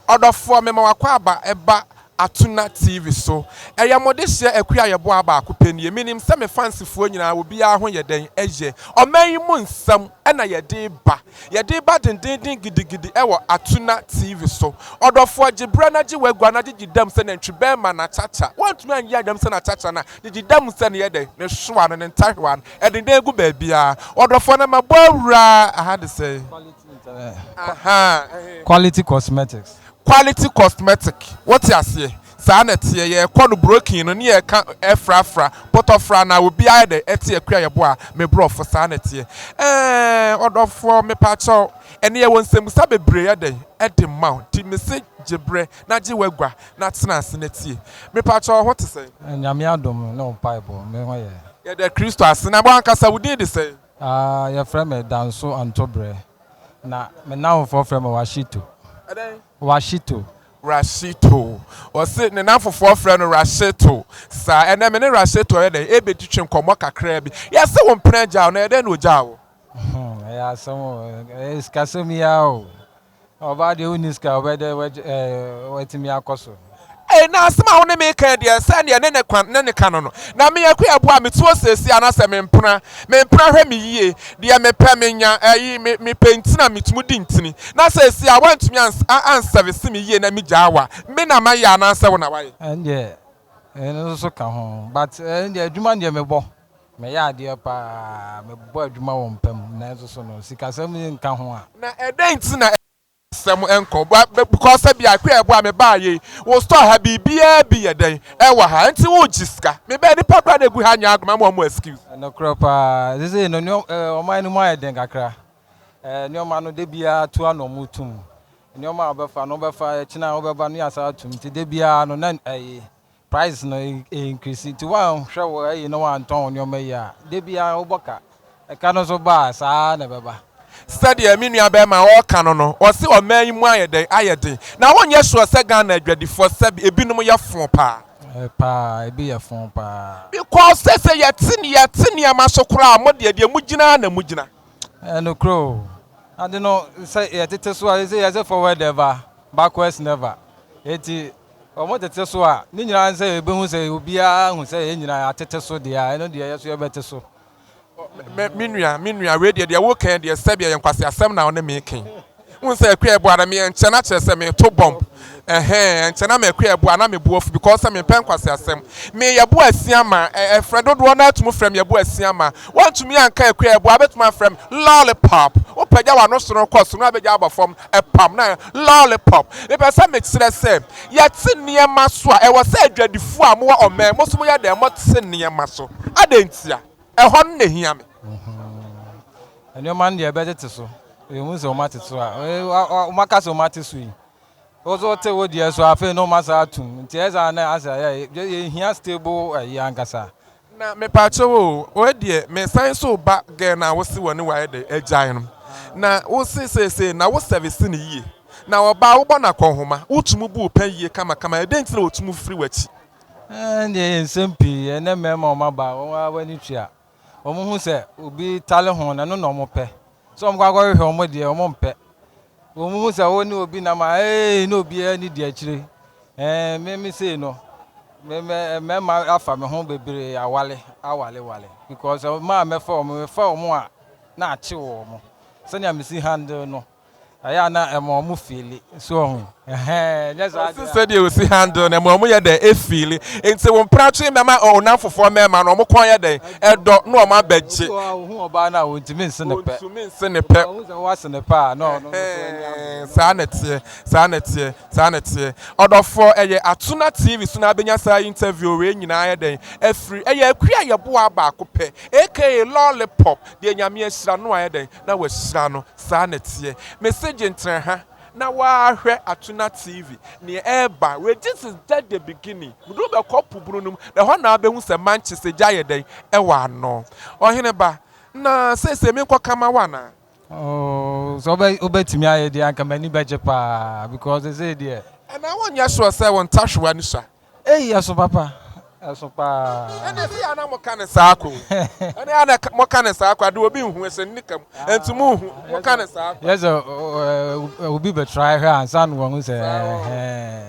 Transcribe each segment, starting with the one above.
Ɔdɔfoɔ mema w'akwaaba ba Atuna TV so. Ɛyɛ mo dehyeɛ Akua a yɛboaa baako pɛ nie. Menim sɛ me fansifoɔ nyinaa obiara ho yɛ dɛn ɛyɛ ɔman yi mu nsɛm na yɛde ba. Yɛde ba dendeenden gidigidi ɛwɔ Atuna TV so. Ɔdɔfoɔ gye berɛ na gye w'agua na gyegye dam sɛ nantwi bɛɛma na kyakya. Woantumi anyɛ dam sɛ na kyakya no a, gyegye dam sɛ ne yɛ dɛn? Ne hwewa no, ne ntahwewa no. Ɛdendenn gu baabiara. Ɔdɔfoɔ na mabɔ awura, aha de sɛn? Quality cosmetics. Quality cosmetic wote aseɛ saa na ɛteɛ yɛkɔ no broking no ne yɛka ɛfrafra pɔtɔfra na obi ayɛ dɛ ɛte akua yɛbɔ a me brɔfo saa na ɛteɛ ɛɛɛɛɛ ɔdɔfoɔ mepakyɛw ɛnɛ yɛwɔ nsɛmbusa bebree yɛ dɛn ɛde ma wo nti mese gye brɛ na gye w'agua na tena ase na tie mepakyɛw wo ho te sɛn? Nyame adom ne wo mpaebɔ me ho yɛ. Yɛda Kristo ase. Na wankasa wo din de sɛn? Aah yɛfrɛ me Danso Antobrɛ na me nnamfofoɔ frɛ me Washito. Ɛdɛn? Washito. Rashito. Ɔse ne nnamfofoɔ frɛ no Rashito. Saa. Ɛnɛ me ne Rashito ayɛ dɛn? Ɛrebɛtwitwi nkɔmmɔ kakraa bi. Yɛse wo mpena gyaa wo na ɛdɛn na ɔgyaa wo? Ɛyɛ asɛm o. Ɛyɛ sikasɛm yi ara o. Ɔbaa deɛ wonni sika wobɛ dɛ watumi akɔ so. Ei na asem a wone me kan deɛ sɛ neɛ ne ne kwan ne ne ka no no na me aku ɛboa me tuo seesei anasɛ me mpena me mpena hwɛ me yie deɛ me pɛ me nya ɛyi me me pɛ nti na me tumu di ntini na seesei a wantumi ans a ansɛvese me yie na me gyaa wa me na ma yɛ anaa sɛ wo na wa yɛ. Ɛndeɛ ɛno nso ka ho but ɛndeɛ adwuma deɛ me bɔ. Meyɛ adeɛ pa ara, mebɔ adwuma wɔ mpa mu, nanso so no, sikasɛm yi nka ho a? Na ɛdɛn nti na asɛm nkɔ? Because sɛ bia kɔ ɛboa me baa yei, wo store ha biribiara bi yɛ dɛn ɛwɔ ha nti wo gye sika? Me bɛɛ nipa koraa na ɛgu ha nyɛ agoma ma ɔmo excuse. Nokorɛ pa ara, sesei no nneɛma, ɔman no mu ayɛ den kakra, nneɛma no da biara tu ara na ɔmo tu mu, nneɛma a wobɛfa no wobɛfa, ɛkyena wobɛba no yɛ asan atu mu, nti da biara no na ɛyi, Price no e increase nti woanhwɛ wo ayi na woantɔn wo nneɛma yie a, da biara wobɔ ka. Ɛka no nso ba a, saa ara na ɛbɛba. Sɛdeɛ me nua barima a ɔreka no no, ɔse ɔman yi mu ayɛ dɛn? Ayɛ den. Na wonyɛ sure sɛ Ghana adwadifoɔ sɛbe ebinom yɛ foo paa? Ɛɛ paa, ebi yɛ foo paa. Because seesei yɛte yɛte nneɛma so koraa a, mo deɛ deɛ mo gyina ara na mo gyina. Ɛyɛ nokorɛ o. Ade no sɛ yɛtete so a, yɛse forward ever, backwards never. Enti Wɔtete so a, ne nyinaa ne sɛ yɛbɛhu sɛ obiara ahu sɛ yɛn nyinaa yɛatete so deɛ a, ɛno deɛ yɛn nso yɛbɛte so. Me, me nua, me nua, wei deɛ, deɛ woka yi deɛ, sɛbea yɛ nkwaseasɛm na wo ne me reka yi. Wohu sɛ akua ɛbo ara, me, ɛnkyɛ na kyerɛ sɛ mereto bomb. Ɛhɛɛ, ɛnkyɛ na m'akua ɛbo a, na me bo afu because sɛ mempɛ nkwaseasɛm. Me, yɛbo asia ma, ɛ, ɛfrɛ dodoɔ no ara tumi frɛ me yɛbo asia ma. Woantumi anka akua ɛbo a, wobɛtumi afrɛ me lollipop. Wopagya w'ano soro kɔ soro na wobɛgya aba fam ɛpam na lollipop. Mepɛ sɛ mekyerɛ sɛ yɛte nneɛma so a, ɛwɔ sɛ adwadifoɔ a mowɔ ɔman mu nso moyɛ dɛn? Mote nneɛma so. Adɛn ntia? Ɛhɔ no na ɛhia me. Nneɛma no deɛ ɛbɛtete so. Yɛhu sɛ wɔatete so a, wɔaka sɛ wɔate so yi. Wo so wote wo deɛ so afei na wɔasa atum. Nti ɛyɛ saa na asɛ yɛhia stable ayi ankasa. Na mepaakyɛw oo wei deɛ me san so ba girl no a wo se wɔne wo ayɛ dɛ agyae no na wo se seesei na wo service no yie na ɔbaa wo bɔ no akɔnhoma wo tumu bu wo pɛ yie kama kama ɛ dɛn nti na ɔtumu firi w'akyi. Ɛnneɛ yɛ nsɛm pii ɛnnɛ mmarima a wɔn abaa wɔn ara w'ani tua wɔn hu sɛ obi tale ho na ɛno na wɔn pɛ sɛ wɔn kɔ akɔhwehwɛ wɔn deɛ wɔn mpɛ Wo mo hu sɛ wo ne obi nam a ee na obiara ni di akyire ɛɛ me me sei no me me mmarima afa me ho bebree awale awale wale because ɔmaa mɛfa wɔn mɛfa wɔn a na akye wɔn sɛnea mesi handle no ɛyɛ a na ɛma wɔn fiili so ɔho ɛhɛn nyɛ saa deɛ sɛdeɛ osi handle no ɛma wɔn yɛ dɛ efiili nti wɔn pratwe mɛma ɔnam fofoɔ mɛma no wɔn kɔn yɛ dɛ dɔ na wɔn abɛgye. Obi wɔ hɔ a ohun ɔbaa no a ontumi nse ne pɛ. Ontumi nse ne pɛ. Ohu sɛ woase ne pɛ a, na ɔno nso ani abere. Saa na ɛteɛ, saa na ɛteɛ, saa na ɛteɛ. Ɔdɔfoɔ, ɛyɛ ato na TV so na abɛnya saa interview wei nyinaa ayɛ dɛn afiri? Ɛyɛ akua yɛboaa baako pɛ, aka lollipop, deɛ Nyame ahyira no ayɛ dɛn na wahyira no. Saa na ɛteɛ. Mese gyentrɛha. na w'ahwɛ Atuna TV neɛ ɛɛba wei this is just the beginning wode wobɛkɔ po bunu no mu na ɛhɔ na wobɛhu sɛ Manchester gya ayɛ dɛn ɛwɔ ano Ɔhene ba na seisei menkɔ ka ma wo anaa. Ooh sɛ wobɛ wobɛtumi ayɛ deɛ anka m'ani bɛgye paa because seisei deɛ. Ɛnaa wonyɛ sure sɛ wo ntawewa no sua. Ei ɛso papa ɛso paa. Ɛne ɛse yɛ ana moka ne saa ko ɛne ana moka ne saa ko ade obi nhu ɛsɛ nnika mu ɛnti mo nhu moka ne saa ko. Yɛsɛ obi bɛ try hwɛ ansa no wahu sɛ ɛhɛɛ.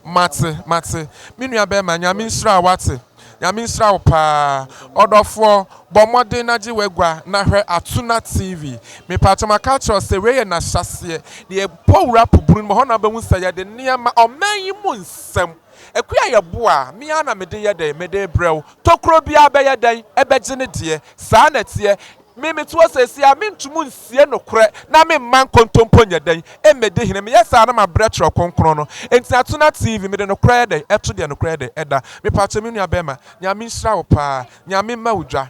Mate mate me nua bɛɛma nyame nhyira wo wate. Nyame nhyira wo paa ɔdɔfoɔ, bɔ mmɔden na gye w'agua na hwɛ Atuna TV. Mepaatɔ maka akyerɛ wo sɛ wei yɛ nahyɛaseɛ, deɛ yɛbɔ wura po bunu no mu hɔ na wobɛhu sɛ yɛde nneɛma, ɔman yi mu nsɛm, akua a yɛboa a me ara na mede yɛ dɛn, mede rebrɛ wo, tokuro biara bɛyɛ dɛn, ɛbɛgye ne deɛ, saa na ɛteɛ. Me mete hɔ seesei a, mentum nsie nokorɛ na memma nkontompo nyɛ dɛn mmɛdi hene, meyɛ saa na mabrɛ twerɛ kronkron no, enti na to na TV, mede nokorɛ yɛ dɛn ɛto deɛ nokorɛ yɛ dɛn ɛda, mepakyɛ me nua bɛɛma Nyame nhyira wo paa, Nyame mma wo dwa.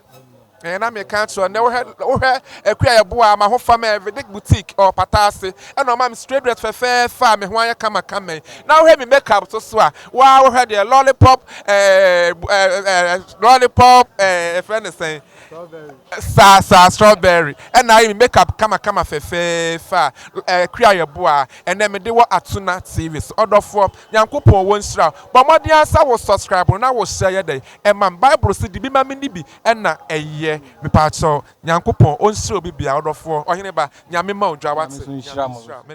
Ɛɛ na meka akyerɛ wo, nnɛ wohwɛ Akua yɛ boa a, mahofa mɛyɛ Vidic Boutique ɛwɔ Pata ase, ɛna ɔma me straight dread fɛfɛɛfɛ a me ho ayɛ kama kama yi, na wohwɛ me make up soso a, woaa wohwɛ deɛ, lollipop ɛɛ ɛɛ ɛɛ lollipop ɛɛ yɛfrɛ no sɛn, Strawberry. Saa saa strawberry ɛna ayɛ me makeup kama kama fɛfɛɛfɛ a ɛɛ kri ayɛ boa a ɛnɛ me de wɔ atuna TV so ɔdɔfoɔ nyankopɔn wɔ nhyira wo bɔ mmɔden ara sɛ wo subscribe no na wo share yɛ dɛn ɛma me bible se di bi ma me ni bi ɛna ɛyɛ me paakyɛw nyankopɔn ɔnhyira obi biara ɔdɔfoɔ ɔhene ba nyame ma wo dwa wate nyame nhyira wo.